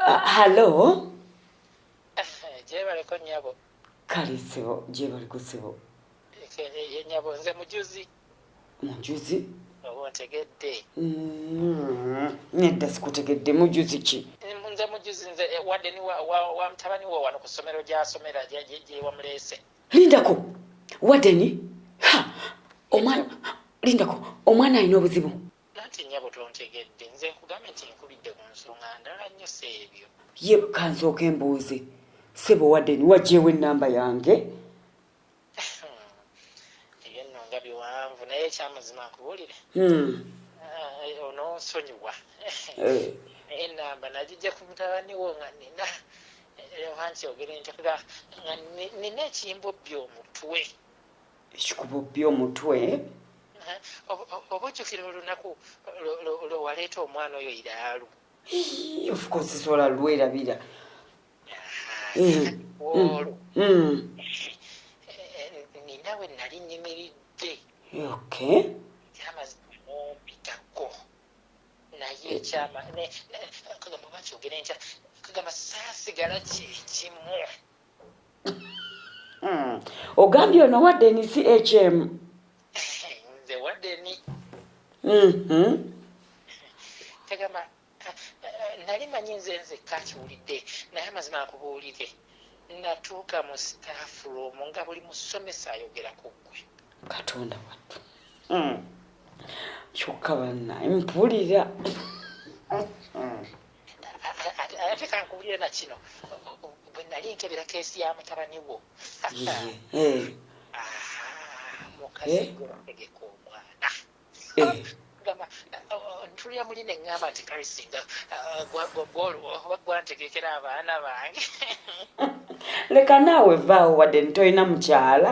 Ah, hallo gyebaleko nyabo kale sebo gyebaliko sebo ye nyabo nze mujuzi mujuzi oba ontegedde mm, nedda sikutegedde mujuzi ki nze mujuzi nze eh, wadde ni wa mutabani wo wano ku ssomero gyasomera gyewamuleese lindako waddeni ha omwana lindako omwana alina obuzibu Nanti nyabo tontegedde nze nkugambye nti nkubidde ku nsonga ndala nnyo si ebyo. Ye kanzooke mbuuze sebo Warden wagyewo ennamba yange? Ebyo nno nga biwanvu naye ekyamazima nkubuulire hmm. eh, ononsonyiwa eh. naye ennamba nagijja ku mutabani wo nga nina eh, oba nkyogere nti nga nina ekimbobbi omutwe ekikububbye omutwe. Obujjukira olunaku lwe waleeta omwana oyo iraalu? Of course sola lwerabira. Olwo nina we nali nyimiridde. Okay. Amazima mumpitako naye ekyama kagamba bakyogera enkya kagamba saasigala kyekimu. Hmm. ogambye ono wa denis hm nze wa deni mm-hmm. tegamba eh, nali manyi nze nzekka akiwulidde naye amazima akubuulire natuuka mu staff room nga buli musomesa ayogera ku ggwe katonda wattu hmm. kyokka banna mpulira hmm. ate kankubulire na kino bwe nali nkebera keesi ya mutabani wo mukazi gwotegeka omwana ntulira muli ne ŋŋamba nti karisinga gwantegekera abaana bange leka naawe vaawo wadde ntolina mukyala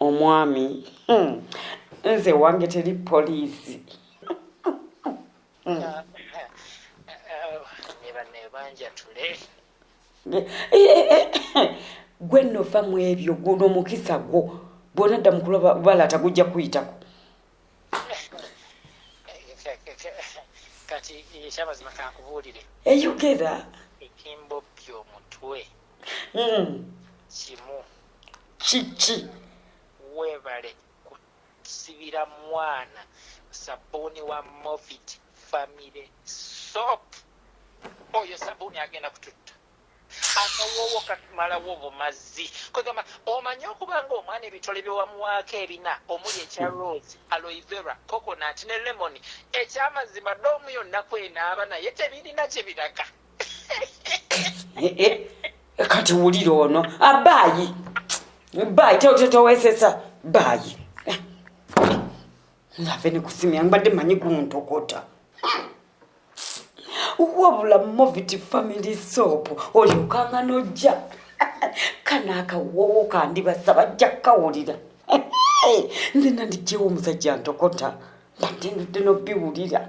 omwami hmm. nze wange teri poliisi hmm. gwe nova mu ebyo guno omukisa gwo bwona dda mukula balaata gujja kuyitako kati ekyamazima kankubuulire eyogera etimbo byomutwe hmm. kimu kiki webale kusibira mwana sabuuni wa movit family sop oyo sabuuni agenda kututta akawoowo katumalawo obumazi kwegamba omanyi okuba nga omwana ebitole byewamuwaako ebina omuli ekya rose aloivera coconat ne lemoni ekyamazima doomu yonna kwenaaba naye tebirina kye biraga Eh, eh, eh, kati wulira ono abaayi ah, baayi tewesesa baayi nave nikusimya mbadde manyi guntokota wabula movit family soap olyokanga nojja kana akawowo kandibasa bajja kukawulira nze nandijjewo omusajja ntokota mbadde ndudde nobiwulira